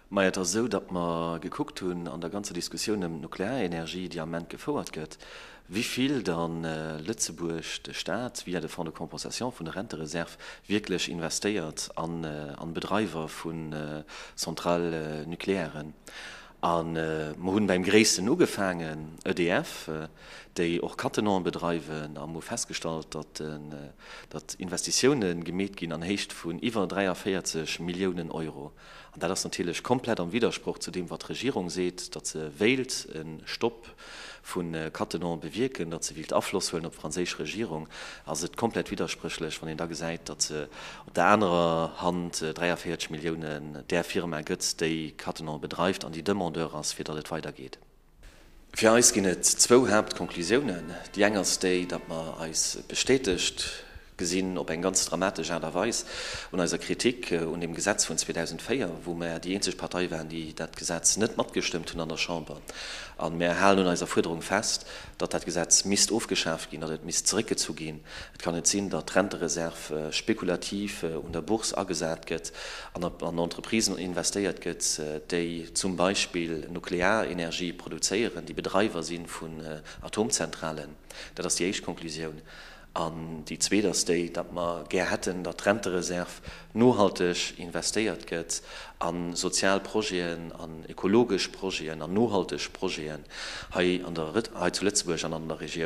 Mä et ass esou, datt mer gekuckt hunn an der ganzer Diskussioun ëm d'Nuklearenergie, déi am Moment gefouert gëtt, wivill da Lëtzebuerg, de Stat via de Fonds de compensation vun de Rentereserve wierklech investéiert an Bedreiwer vu Centrales nucléairen. A mer hunn beim Gréissten ugefaangen, EDF, déi och Cattenom bedreiwen, a mer hu festgestallt, datt de datt Investitioune gemeet ginn an Héicht vun iwwer 43 Milliounen Euro. An dat ass natierlech komplett am Widdersproch zu deem, wat d'Regierung seet, datt se wéilt e Stopp vu Cattenom bewierken, datt se wéilt Afloss huelen op d'franséisch Regierung, ass et komplett widderspréchlech, wann een da gesäit, datt se op der anerer Hand 43 Milliounen där Firma gëtt, déi Cattenom bedreift an déi Demandeur ass, fir datt et weidergeet. Fir eis ginn et zwou Haaptconclusiounen. Déi eng ass déi, datt mer eis bestätegt gesinn, op eng ganz dramatesch Aart a Weis, un eiser Kritik un deem Gesetz vun 2004, wou mer déi eenzeg Partei waren, déi dat Gesetz net matgestëmmt hunn an der Chamber. A mer halen un eiser Fuerderung fest, datt dat Gesetz misst ofgeschaaft ginn, datt et misst zeréckgezu ginn, Et kann net sinn, datt d'Rentereserv spekulativ un der Bourse agesat gëtt an an Entreprisen investéiert gëtt, déi zum Beispill Nuklearenergie produzéieren, déi Bedreiwer si vun Atomzentralen. Dat ass déi éischt Konklusioun. An déi zweet ass déi, datt mer gär hätten, datt d'Rentereserv nohalteg investéiert gëtt a sozial Projeten, an ökologesch Projeten, an nohalteg Projeten hei zu Lëtzebuerg an an der Regioun.